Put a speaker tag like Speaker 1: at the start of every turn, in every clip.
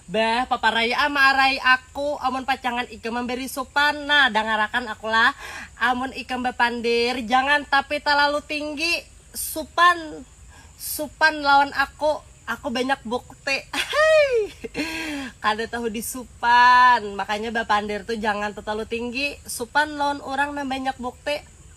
Speaker 1: Bah, paparai am arai aku, amun pacangan ikam mambari supan, nah dangarakan aku lah, amun ikam bapandir, jangan tapi talalu tinggi, supan, supan lawan aku, aku banyak bukti, ahai, kada tahu disupan, makanya bapandir tu jangan tatalalu tinggi, supan lawan urang nang banyak bukti.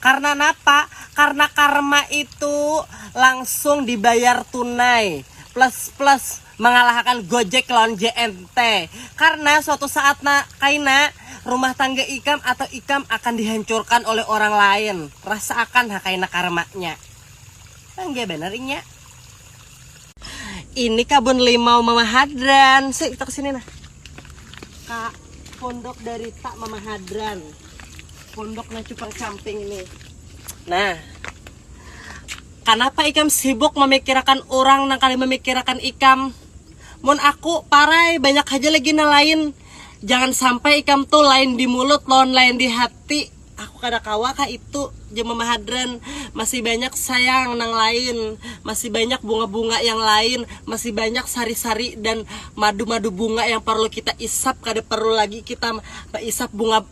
Speaker 1: Karna napa? Karna karma itu langsung dibayar tunai plus plus mangalahakan Gojek lawan JNT. Karena suatu saat na kaina rumah tangga ikam atau ikam akan dihancurkan oleh orang lain. Rasaakan ha kaina karmanya. Bangga banar inya. Ini kabun limau Mama Hadran. Sik, kita kesini nah. Kak, pondok dari tak Mama Hadran. Pondok nah cupang camping ini. Nah, kenapa ikam sibuk memikirkan orang nang kali memikirkan ikam? Mun aku parai banyak aja lagi nang lain. Jangan sampai ikam tuh lain di mulut lawan lain di hati. Aku kada kawa kah itu jema mahadran masih banyak sayang nang lain masih banyak bunga bunga yang lain masih banyak sari sari dan madu madu bunga yang parlu kita isap kada parlu lagi kita maisap bunga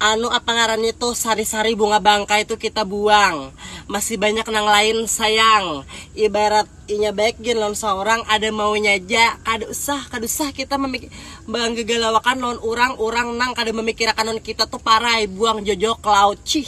Speaker 1: anu apa ngarannya tuh sari sari bunga bangkai tuh kita buang masih banyak nang lain sayang ibarat. Inya baik gin lawan saurang, ada maunya ja, kada usah, kada usah kita bangagalawakan lawan urang, urang nang kada mamikirakan lawan kita tu parai, buang jojok, laut, cih.